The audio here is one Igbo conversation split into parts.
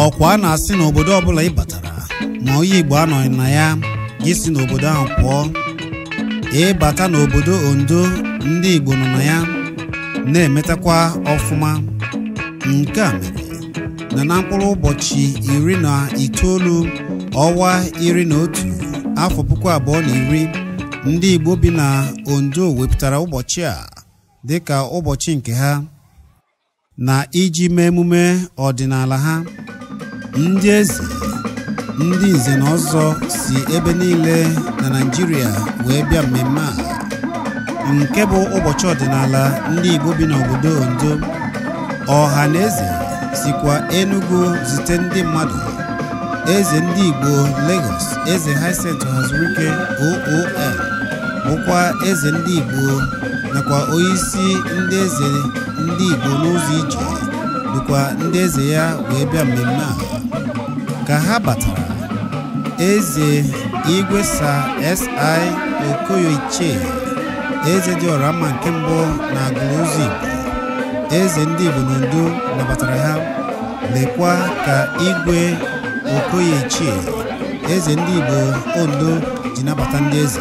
ọkwa a na-asị na obodo ọbụla ị batara ma onye igbo anọghị na ya gị si n'obodo ahụ pụọ ịbata n'obodo ondo ndị igbo nọ na ya na-emetakwa ọfụma nke a mere na na mkpụrụ ụbọchị iri na itoolu ọnwa iri na otu afọ puku abụọ na iri ndị Igbo bi na Ondo wepụtara ụbọchị a dịka ụbọchị nke ha na iji mee emume ọdịnala ha ndị eze ndị nze na ọzọ si ebe niile na Naịjirịa wee bịa mmemme a nke bụ ụbọchị ọdịnala ndị Igbo bi n'obodo Ondo Ọhanaeze sikwa Enugu zite ndị mmadụ eze ndị Igbo Lagos eze Hyacinth Ohazulike OON bụkwa eze ndị Igbo nakwa onyeisi ndị eze ndị Igbo n'ụzọ ije dukwa ndị eze ya wee bịa mmemme a ka ha batara eze igwe Sir C Okoye ichie eze dị ọra mma nke mbụ na Agụlụzọigbo eze ndị Igbo na Ondo nabatara ha lekwa ka igwe Okoye ichie eze ndị Igbo Ondo ji nabata ndị eze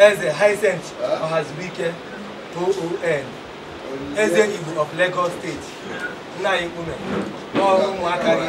eze Hyacinth Ohazulike OON eze Igbo of Lagos steeti nna anyị mkpume ụmụaka gị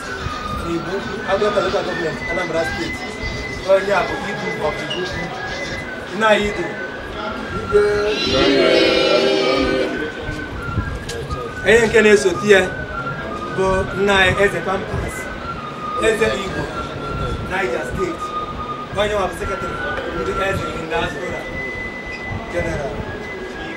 Igbo Agụata Local Government Anambra State onye a bụ Idu of Igbo nna anyị Idu onye nke na-esote ya bụ nna anyị Eze Pampas Eze Igbo Niger State onye nwa bụ sekretarị ndị Eze in diaspora General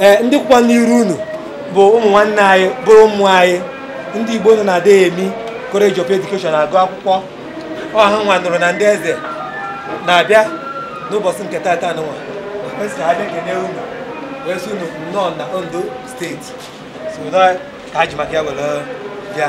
ee ndị kwụkwa n'iru unu bụ ụmụ nwanne anyị bụrụ ụmụ anyị ndị Igbo nọ na Adeyemi College of Education agụ akwụkwọ ọ hanwa nụrụ na ndị eze na-abịa n'ụbọchị nke tata nwa kwesịrị abịa kene unu wee sị unu nnọọ na Ondo steeti so ka anyị ji maka ya were bịa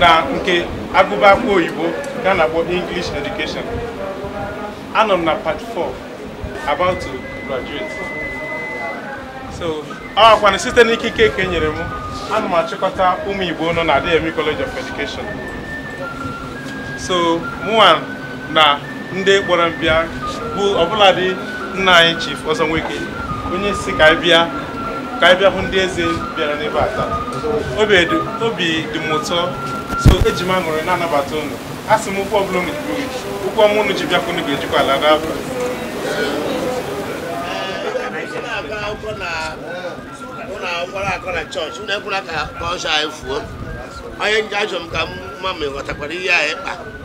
na nke agụba akwụkwọ oyibo ka a na-akpọ English education anọ m na part 4 about to graduate so ọ wụkwanụ site n'ikike nke e nyere m ana m achịkọta ụmụ Igbo nọ na Adeyemi College of Education so mụwa na ndị kpọrọ m bịa bụ ọbụladị nna anyị Chief Ọzọ Nweke onye si ka anyị bịa ka anyị bịa hụ ndị eze bịara n'ebe a taa obi dị- obi dị m ụtọ so eji m aṅụrị na-anabata unu asị m ụkwụ ọbụla unu ji buru ụkwụ ọma unu ji bịa ka unu ga-ejikwa ala n'afọ na-agụ akwụkwọ na ụlọ akwụkwọ akọ na chọọchị unu ekwela ka ka asụsụ anyị fuo onye nje ajụ m ka m ma ma ị ghọtakwara ihe anyị kpa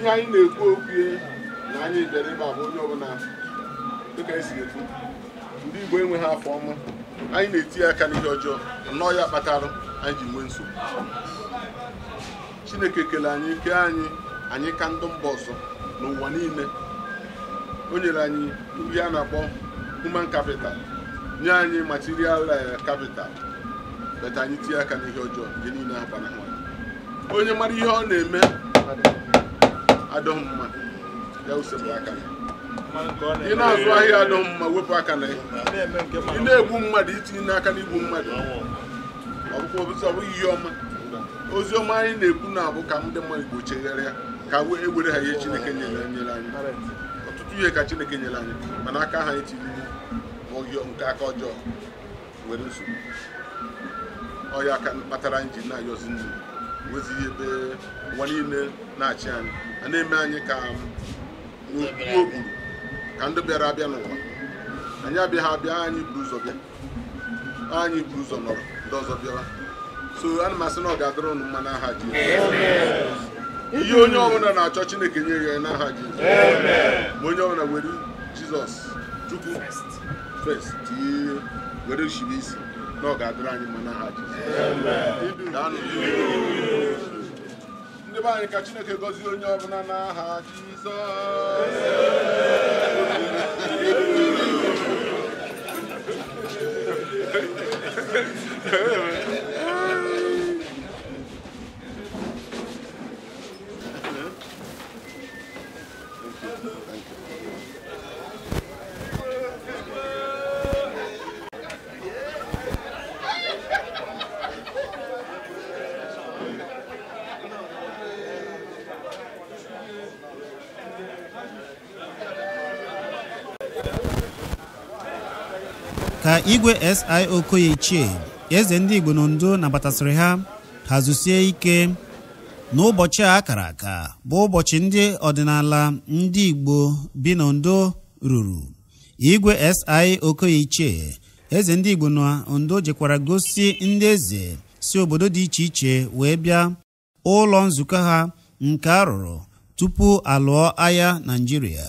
ihe anyị na-ekwu okwu na anyị bịara ebe a bụ onye ọbụla dịka esi ekwu ndị Igbo enweghị afọ ọma anyị na-etinye aka n'ihe ọjọọ nnọọ ya kpatara anyị ji nwee nsogbu Chineke kele anyị kee anyị anyị ka ndị mba ọzọ n'ụwa niile o nyere anyị ihe a na-akpọ human capital nye anyị material eh, capital but anyị tinye aka n'ihe ọjọọ ihe niile ha onye mara ihe ọ na-eme adịghị mma ya sepụ aka na ya ị na-azụ ahịa adịghị mma wepụ aka na ya ị na-egbu mmadụ itinye aka n'igbu mmadụ ọ bụghị ihe ọma ozi ọma anyị na-ekwu na ọ bụ ka ndị mmadụ Igbo chegharịa ka e were ha ihe Chineke nyere nyere anyị ọtụtụ ihe ka Chineke nyere anyị mana aka anyị tiri n'aka ọjọọ nwere nsogbu ọ ya kpatara anyị ji na-ayọzi nri enwezighị ebe ụwa niile na-achị anyị a na-eme anyị ka okpuru ka ndị bịara abịa n'ụwa anyị abịaghị abịa anyị buru ụzọ bịa anyị buru ụzọ nọrọ ndị ọzọ bịara so ana m asị na ọ ga-adịrị unu mma n'aha Jizọs ihe onye ọbụla na-achọ Chineke nye ya n'aha Jizọs ma onye ọbụla were Jizọs Chukwu First, tinye were shibe isi na ọ ga-adịrị anyị mma n'aha Jizọs. Daanụ. Ndị be anyị ka Chineke gọzie onye ọbụla n'aha Jizọs. ka igwe SI Okoye Ichie eze ndị Igbo n'Ondo nabatasịrị ha ha zusie ike n'ụbọchị a kara aka bụ ụbọchị ndị ọdịnala ndị Igbo bi n'Ondo ruru igwe SI Okoye Ichie eze ndị Igbo na Ondo jekwara gosi ndị eze si obodo dị iche iche wee bịa ụlọ nzukọ ha nke a rụrụ tupu a lụọ agha Naịjirịa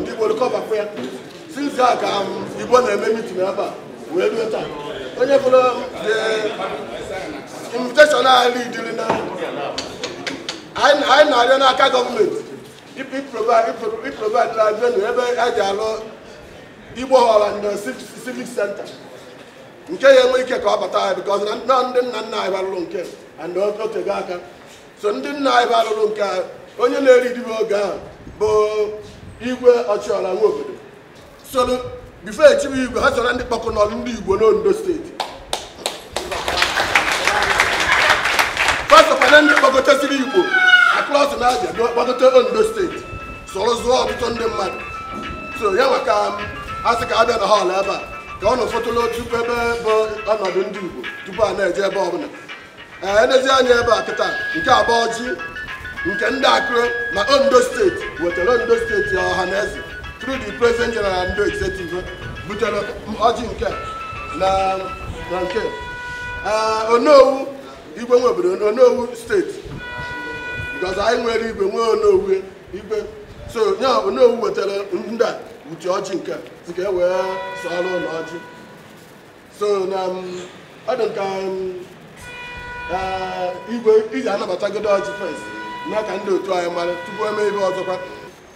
ndị Igbo come back here since a ka Igbo na-eme mitin ebe a wee ruo taa onye fụrụ invitation anyị dere na anyị na-arịọ n'aka gọọmenti ịprovide na venue ebe a ji alụ Igbo họl na civic center nke ya enwe ike ka ọ bata ya bikọz na ndị nna nna anyị ba rụrụ nke a otego aka so ndị nna anyị ba rụrụ nke a onye na-elidi ebe oge ahụ bụ igwe Ọchịọra Nwobodo so bifo e chibe igwe ha soro ndị kpọkọrọ ndị igbo n'ondo steeti fa sokwa na ndị kpọgotasiri igbo across the Niger kpọgote ondo steeti soro zụọ ọtụtụ ndị mmadụ so ya maka a sị ka a bịa na họl ebe a ka ọ na ụfọtụla tupu ebe bụ ọnọdụ ndị igbo tupu a na-eje ebe ọbụla e lezie eh, anya ebe a kịta nke a bụ ọjị nke ndị Akure na ondo steeti wetara ondo steeti Ọhanaeze through the president general and executive butere ọjị nke na nke eh, onowu igwe ndị Igbo Ondo steeti because anyị nwere igwe nwee onowu igwe so nye onowu wetara ndị a uche ọjị nke si ka e wee sọọrọ ụlọ ọjị so na um, ọ dị ka um, uh, igwe ị ga-anabatagodu ọjị first na ka ndị otu anyị mara tupu e mee ihe ọzọkwa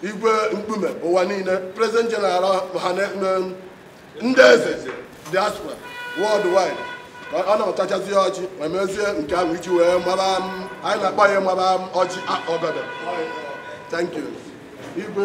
igwe mkpume ụwa niile president general ha um, ndị eze diaspora world wide ọ natachazie ọjị ma mezie nke ahụ iji wee mara anyị na-akpọ ya mara ọjị ọgọdọ thank you igwe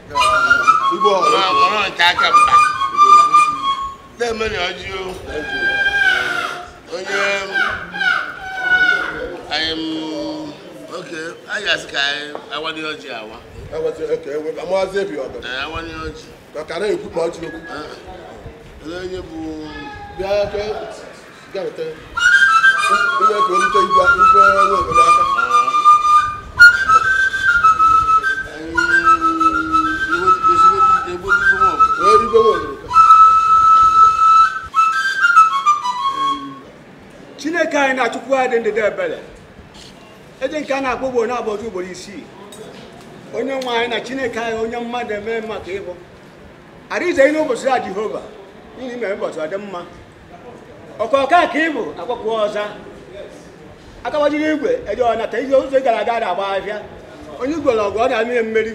Igbo ọrụ. Ma kpọrọ nke aka mba. Na-emeri ọjị o. Onye anyị m oke anyị a sị ka anyị wanye ọjị awa. Eweta eke ewe amazi ebi ọdọ. Ee, awanye ọjị. Ka kara ekwu ma ọ ji okwu. Ee, Onye bụ Bịa ka chineke anyị na chukwu anyị dị ndịda ebere eze nke a na-akpọ ugboro naabọ ọ za ugboro isii onye nwe anyị na chineke anyị onye mmadụ eme mma ka ị bụ arinze gị n'ụbọchị a jehova n'ihi mere ụbọchị ọ dị mma okaka ka ị bụ a kpọkuo ọ za aka gbajiri igwe eje ọnata ihe ụzọ ị gara aga na-agba ahịa onye igwe na ọgụ ọ na-amị ya mmeri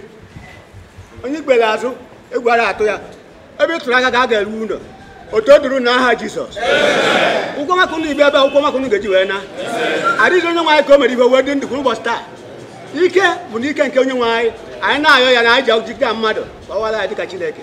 onye igwe azụ egwu ara atụ ya ebe ị tụrụ aka ka a ga-arụ ụlọ otuto dịrị na aha jizọs ụkwụ ọma ka unu ji bịa ebe a ụkwụ ọma ka unu ga-eji wee naa arinze onye nwe anyị ka o mere i ji wee dị ndụ kwụrụ ụbọchị taa ike bụ n'ike nke onye nwe anyị anyị na-ayọ ya na anyị ji ọjị dịka mmadụ gbawara ya dịka chineke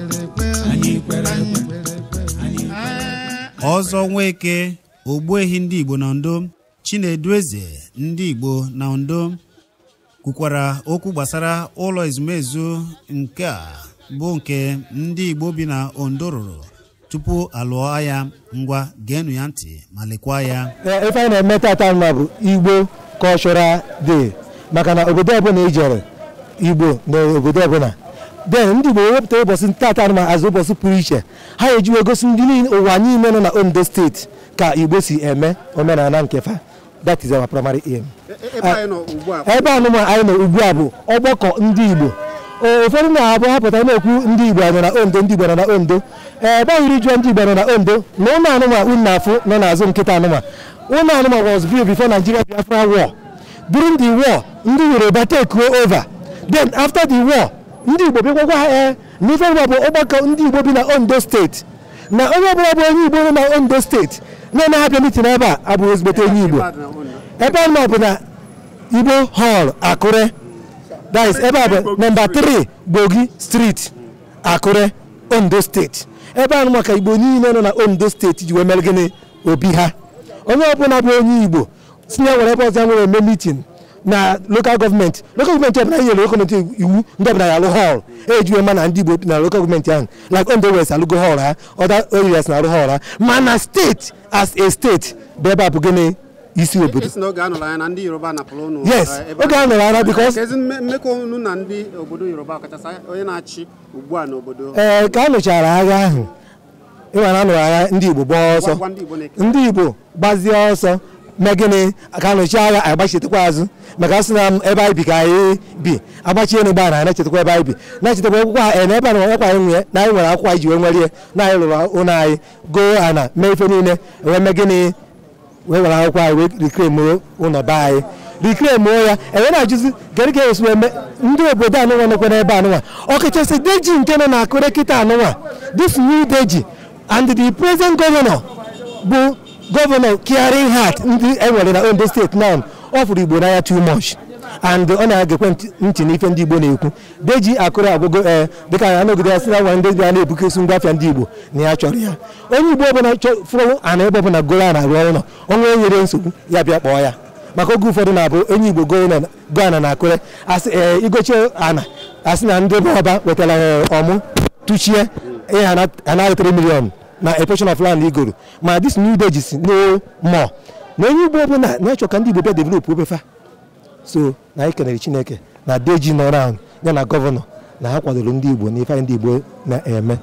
ọzọ nweke ogbuehi ndị igbo na ondo chinedu eze ndị igbo na ondo kwukwara okwu gbasara ụlọ ezumezu nke a bụ nke ndị igbo bi na ondo rụrụ tupu a lụọ agha ngwa geenụ ya ntị ma lekwa ya ife anyị na-eme tata nụnwa bụ igbo cultural day maka na obodo ọbụla i jere igbo nọ obodo ọbụla then ndị igbo wepụta ụbọchị tata nụnwa as ụbọchị pụrụ iche ha eji wee gosi ndị ụwa niile nọ na ondo steeti ka igbo si eme omenala nke fa that is our primary aim ebe a nụnwa anyị nọ ugbu a bụ ọgbakọ ndị Igbo ụfọdụ na-abụ ha pụta a na-ekwu ndị Igbo nọ na Ondo ndị Igbo nọ na Ondo ebe anyị original ndị Igbo nọ na Ondo na ụlọ a nụnwa unu na-afụ nọ n'azụ m kịta nụnwa ụlọ a nụnwa was built before Nigeria Biafra war during the war ndị Yoruba take over then after the war ndị Igbo bịakwakwa ha ee eh, na ife bụ ọgbakọ ndị Igbo bi na Ondo steeti na onye ọbụla bụ onye Igbo nọ na Ondo steeti na-anaghị abịa mitin ebe a abụghị ezigbote onye Igbo ebe anụnwa bụ na Igbo hall Akure that is ebe a bụ nọmba 3 Gbogi street Akure Ondo steeti ebe anụnwa ka Igbo niile nọ na Ondo steeti ji wee mere gịnị obi ha onye ọbụla bụ onye Igbo sị ya nwere ebe ọzọ ya nwere eme mitin na lokal gọọmenti lokal gọọmenti ọbụla anyị nyere gọọmenti iwu ndị ọbụla ya alụ hall e ji wee ma na ndị igbo na lokal gọọmenti ahụ like ondo west alụgo hall ha other areas na alụ hall ha mana steeti as a steeti bụ ebe a bụ gịnị isi obodo yes oge a nọrọ anya na because ee ka a nụchara agha ahụ ị ma na a nụrụ agha ndị Igbo gbaa ọsọ ndị Igbo gbazie ọsọ mee gịnị ka anụchi agha anyị gbachitekwa azụ maka asị na ebe anyị bi ka anyị bi agbachie na gbara anyị na-echetakwa ebe anyị bi na-echetakwa akwụkwọ a eh, na ebe a na ọkwa anyị nwee na anyị nwere akwụkwọ anyị ji wee nwere ihe na anyị lụrụ ụlọ anyị goo ana mee ife niile wee mee gịnị wee were akwụkwọ anyị wee reclaimụọ ụlọ be anyị reclaimụọ ya enwe na-ajụzi gịnị ka esi eme ndị obodo anụnwa nọkwa n'ebe anụnwa ọkachasị deji nke nọ na Akure kịta anụnwa this new deji and the present governor bụ gọvanọ caring heart ndị enwere na ondo steeti now ọ fụrụ igbo n'anya too much and ọ na-egekwa ntị- ntị n'ife ndị igbo na-ekwu deji Akure agwago ee dịka anọgide ya sị na nwa ndị a na-ebukesi ngwa afịa ndị igbo na ya chọrọ ya onye igbo ọbụla fụrụ ana ebe ọbụla goro ana arụ ụnọ o nwee onye nyere nsogbu ya bịa kpọọ ya maka oge ụfọdụ na-abụ onye igbo go ana na Akure asị ee igochie ana asị na ndị ọba wetara ọmụ tụchie ihe a naa gị 3 million na a portion of land igoro ma this new Deji sị no more na onye igbo ọbụla na-achọ ka ndị igbo bịa developụọ be fa so na anyị kenere Chineke na Deji nọ around ya na gọvanọ na ha kwadoro ndị Igbo na ife anyị ndị Igbo na-eme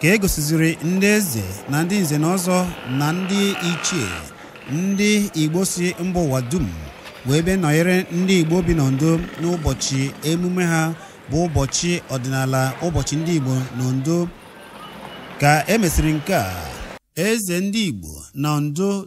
ka e gosiziri ndị eze na ndị nze na ọzọ na ndị ichie ndị Igbo si mba ụwa dum wee bịa nọnyere ndị Igbo bi n'Ondo n'ụbọchị emume ha bụ ụbọchị ọdịnala ụbọchị ndị Igbo n'Ondo ka e mesịrị nke a eze ndị Igbo na Ondo